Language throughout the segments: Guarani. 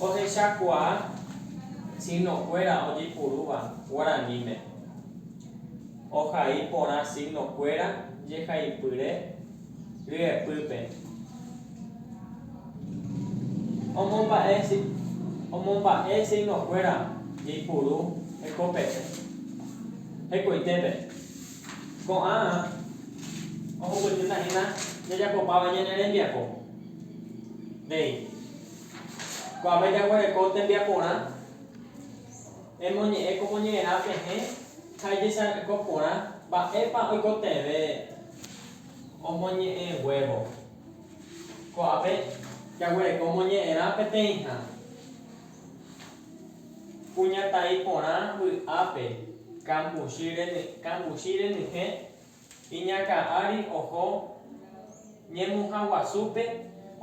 Ohechakuaa signokuéra ojepurúva guaraníme. Ohai porã signokuéra jehaipyre ryepýpe. Omomba'e signokuéra jeipuru hekope'ẽ hekoitépe. Ko'ã ohupytýta hína jajapopáva ñane rembiapo. Déi. Ko'ápe jaguereko tembiaporã emoñe'ẽ ko moñe'ẽrã pehẽ ha ijechako porã mba'épa oikotevẽ omoñe'ẽ guévo. Ko'ápe jaguereko moñe'ẽrã peteĩha kuñataĩ porã vy'ápe kambuchi renyhẽ. Iñakã ári oho ñemuha guasúpe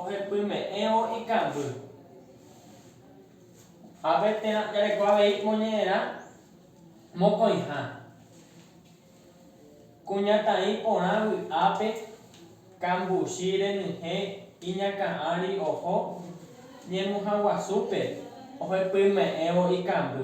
ohepyme'ẽvo ikangy. Ápe térã jareko avei moñe'ẽrã mokõiha. Kuñataĩ porã vy'ápe kambuchi renyhẽ iñakã ári oho ñemuha guasúpe ohepyme'ẽvo ikangy.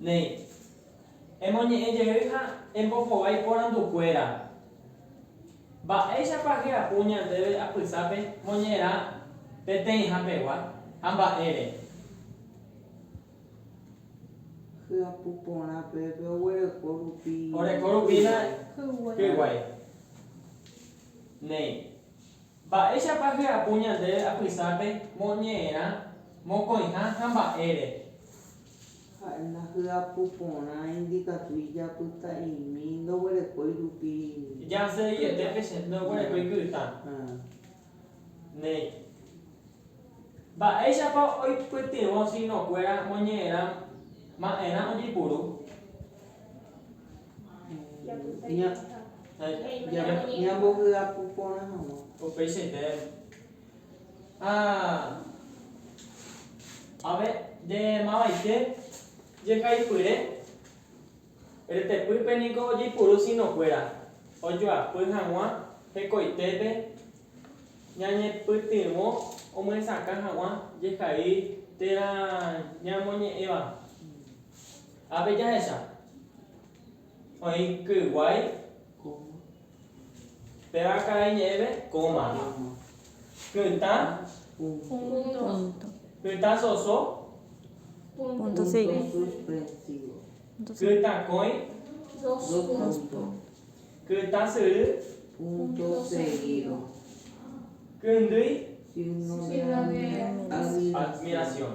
Néi, emoñe'ẽ jey ha embohovái porandu kuéra. Mba'éichapa hyapu ñandéve apysápe moñe'ẽrã peteĩha pegua, ha mba'ére? Hyapu porã pépe oguereko rupi hýguai. Néi, Mba'éichapa hyapu ñandéve apysápe moñe'ẽrã, mokõiha ha mba'ére? Ha'e ndahyapu porã indikatu ijapyta'imi ndoguerekói rupi ky'a. Jaseg̃uiete pe che ndoguerekói ky'a. Néi. Mba'éichapa oipytyvõ signokuéra moñe'ẽrã ma'erã ojepuru? Ñambohyapu porã hag̃ua. Upeichaite ave nde mavaite jehaipyre retepýpe niko ojeipuru sinokuéra ojoapy hag̃ua hekoitépe ñañepytyvõ omyesakã hag̃ua jehai térã ñamoñe'ẽva. Ápe jahecha. Oĩ kyguái pe raka'e ñe'ẽve kóma. Kytã kytã soso kytãkõi kytã syry kyndýi admiración.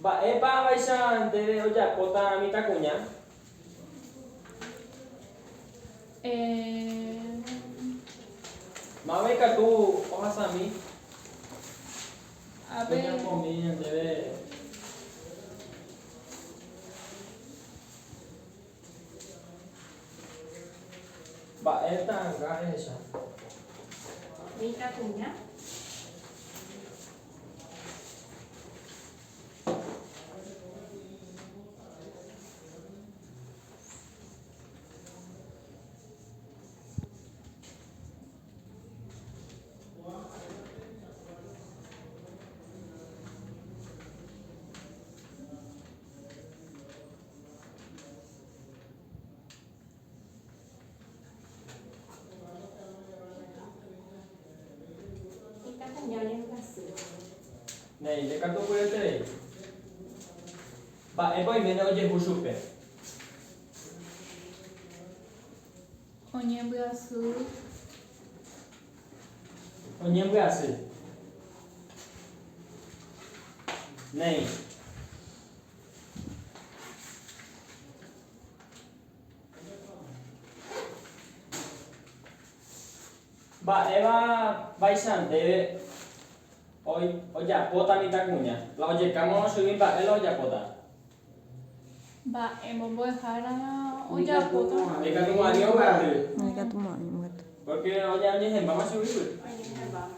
Mba'épa avaicha ndéve ojapóta mitãkuña? Mávai katu ohasami oñepomi ñandéve. Mba'e ta'ãnga ehecha. Mitãkuña. Néi, ndekatupyryeterei. Mba'épa oiméne ojehu chupe? Oñembyasy. Oñembyasy. Néi. Mba'éva vaicha ndéve ojapóta mitãkuña, la ojeka moõ chugui mba'e la ojapóta? Mba'e mombo'ehárava ojapóta. Ikatu mo'ãi ombo'aty. Ikatu mo'ãi ombo'aty. Pórke oñehẽmbáma chugui. Oñehẽmbáma.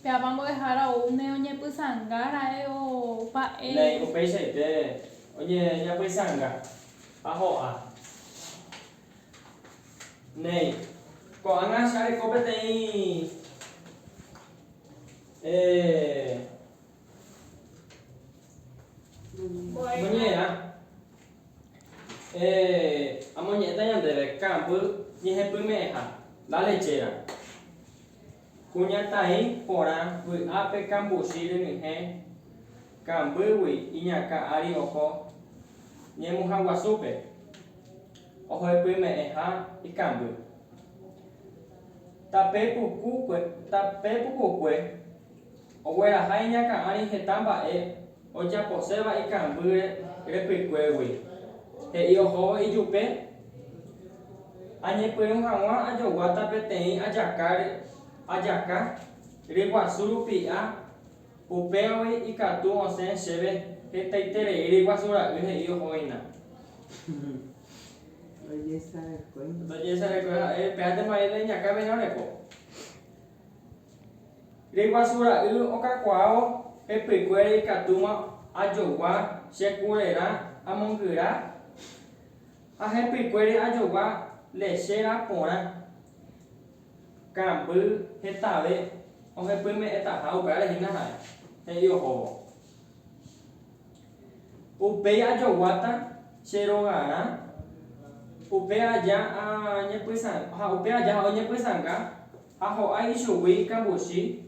Pe apa mbo'ehára ou ne oñepysanga ra'e opa e. Lei upeichaite oñeñapysanga ha ho'a. Néi, ko'ág̃a che areko peteĩ e. Mbo'ehára. Eh, amoñe'ẽta ñandéve kambýy ñehepyme'ẽha, la lechera. Kuñataĩ porã vy'ápe kambuchi renyhẽ kambýgui iñakã ári oho ñemuhãguasúpe, ohoepyme'ẽha ikamby. Tape pukukue, tape pukukue ogueraha iñakã ári heta mba'e Ojaposéva ikambýre repykuégui, he'i ohóvo ijupe, Añepyrũ hag̃ua ajoguáta peteĩ ajaka ajaka ryguasu rupi'a, upévagui ikatu osẽ chéve hetaiterei ryguasu ra'y he'i ohóina. Ndojesarekói ha'e, upévantema oĩ reiñakã peẽ oreko. Reguasu ra'y okakuaávo pe pykuéra ikatúma ajogua che kurerã amongyra ha he pykuére ajogua lechera porã. Kambý hetave ohepyme'ẽtaha upévare hína ha'e, he'i ohóvo. Upéi ajoguáta che rogarã upe aja ha oñepysãnga Ha ho'a ichugui kambuchi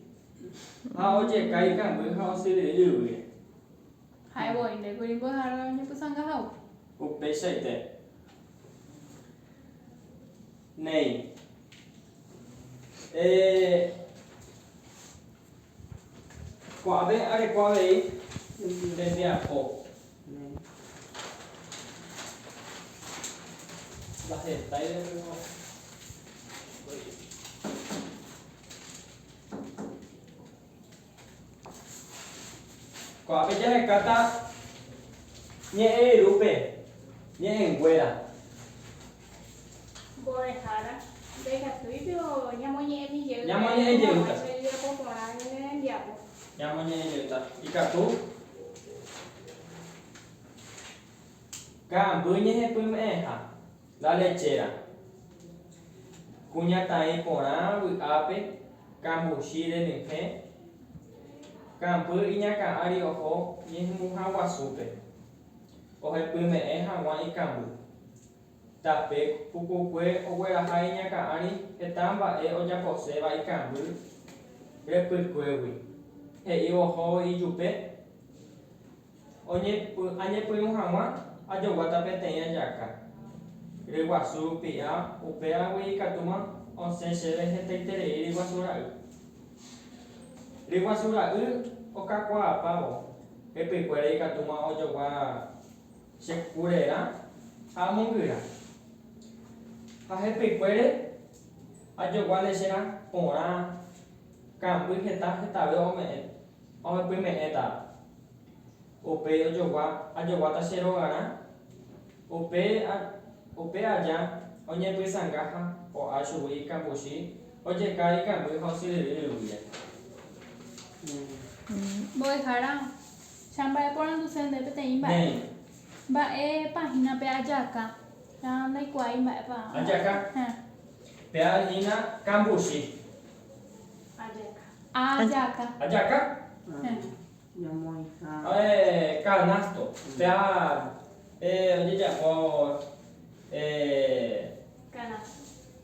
ha ojeka ikangy ha osyryry yvýre. Ha'e voi nde kuri mbo'ehára oñepysanga hagua. Upeichaite néi, eh. Ko'ãve areko avei nde mbiapo. Ndahetái rembiapo. Ko'ãve jahekáta ñe'ẽ irũpe ñe'ẽnguéra. Mbo'ehára, ndaikatúi piko ñamoñe'ẽmi jey hag̃ua hembiapo porã ñane rembiapo. Ñamoñe'ẽ jeýta. Ikatu ka'amby ñehepyme'ẽha la lechéra, kuñataĩ porã vy'ápe, kambuchi renyhẽ, kambýr iñakã'ári oho ñehembuha guasúpe, ohepyme'ẽ hag̃ua ikamby. Tape pukukue ogueraha iñakã ári heta mba'e ojaposéva ikangy repykuégui, he'i ohóvo ijupe, Añepyrũ hag̃ua ajoguáta peteĩ ajaka ryguasu rupi'a, upévagui ikatúma osẽ chéve hetaiterei ryguasu ra'y. Ryguasu ra'y okakuaapávo, repykuéra ikatúma ojogua Che kurerã ha amongyra. Ha hepykuére ajogua lecherã porã, kamby heta hetave ome'ẽ, ohepyme'ẽta. Upéi ojogua ajoguáta che rogarã, upe, upe aja oñepysanga ha o'a chugui ikambuchi, ojeka ikamby ha osyryryry guíre. Mbo'ehára Cha mba'eporanduse nde peteĩ mba'e. Mba'e páhinape ajaka. Cha ndaikuaái mba'épa omba'apo. Pe'añína kambuchi. Ajaka. Ajaka. Kanásto. Pea ojejapo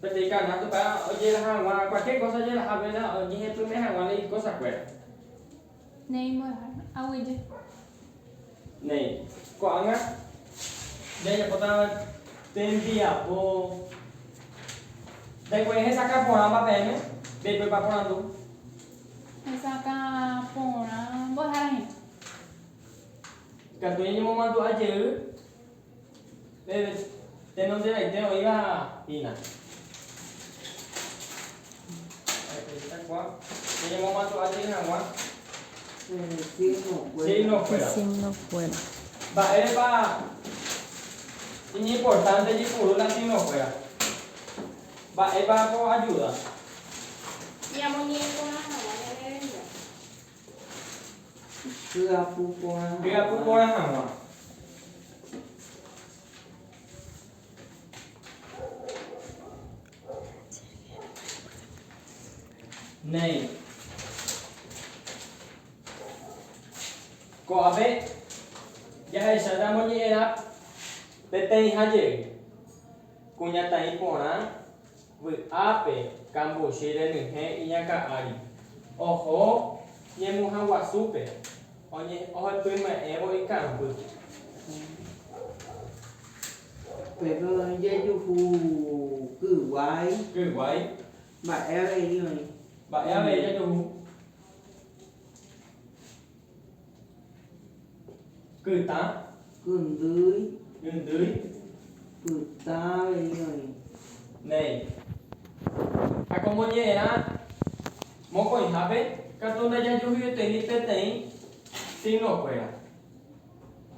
peteĩ kanásto pe'a ojeraha hag̃ua kualkiér kósa ojeraha péina oñehepyme'ẽ hag̃ua ikósakuéra. Néi, mbo'ehára. Aguyje. Néi, ko'ág̃a jajapóta tembiapo. Ndaikuaái hesakã porãva peẽme, ndaipepa porandu. Hesakã porã, mbo'ehára hína. Ikatu ñañemomandu'a jey Peve tenondevaite oĩva hína. Ñañemomatu'a jey hag̃ua signo kuéra. Mba'érepa iñimportánte jepuru la signo kuéra? Mba'épa ko ajuda? Ñamoñe'ẽ porã hag̃ua ñane renda. Hyapu porã hag̃ua. Hyapu porã hag̃ua. Néi. Ko'ápe jahechátaramo ñe'ẽrã peteĩha jey, kuñataĩ porã. Vy'ápe kambuchi renyhẽ iñakã ári, oho ñemuha guasúpe, oñe'ẽpyme'ẽvo ikãmbýpe. Jejuhu kyguái. Kyguái. Mba'e avei oĩ. Mba'e avei jejuhu. Kytã. Kyndýi. Kyndýi. Kytã avei oĩ. Néi. Ha ko moñe'ẽrã mokõihápe katu ndajajuhuietei peteĩ signokuéra.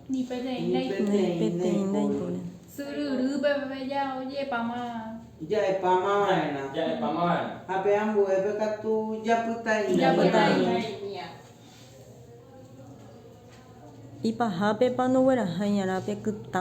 Ni peteĩ ndaipóri. Syryry peve jaojepáma. Ja'epáma va'erã. Ja'epáma va'erã. Ha pe ambuépe katu japytaĩmia. Japytaĩmia. Ipahápepa nogueraha iñarã pe kytã?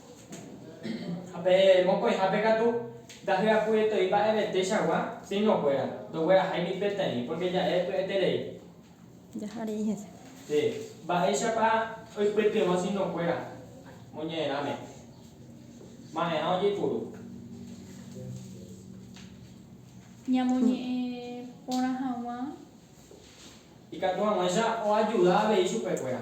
Ha pe mokõihápe katu, ndahyapu'eto'i mba'evetechagua siñokuéra, ndogueraháigui peteĩ, pórke ja'e py'eterei. Jaha rei hese. Sí. Mba'éichapa oipytyvõ siñokuéra moñe'ẽrãme? Ma'erã ojeipuru. Ñamoñe'ẽ porã hag̃ua. Ikatu hag̃uáicha oajuda avei chupekuéra.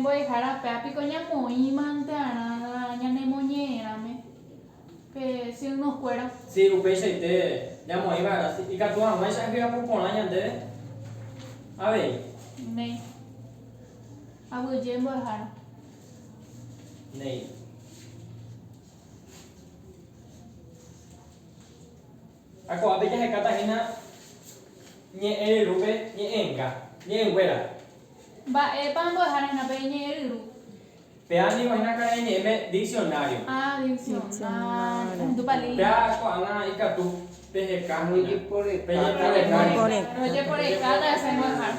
Mbo'ehára, péa piko ñamoĩmante arã ñanemoñe'ẽrãme pe siygnokuéra? Si, upeichaite ñamoĩva'erã. Si, ikatu hag̃uáicha ahyapu porã ñandéve avei. Néi. Aguyje mbo'ehára. Néi. Ha ko'ápe jahekáta hína ñe'ẽ ryrúpe ñe'ẽnga, ñe'ẽnguéra. Mba'épa ambo'ehára hína pe ñe'ẽ ryru? Péa ningo hína karai ñe'ẽme diksionário. Ha, diksionário. Péa ko'ág̃a ikatu peheka hína, pejeporekáta hese ambo'ehára.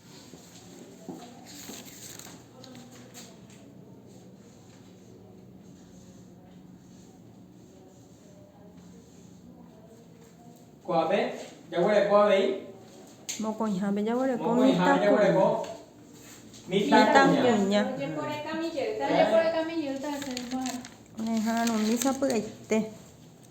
Ko'ápe jaguereko avei. Mokõihápe jaguereko mitãkuña. Oñeporeka mi jeýta. Oñeha'arũmi sapy'aite.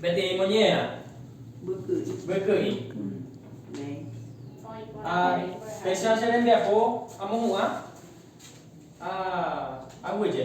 Peteĩ moñera. Vyky'i. Ha péicha che rembiapo amohu'ã ha aguyje.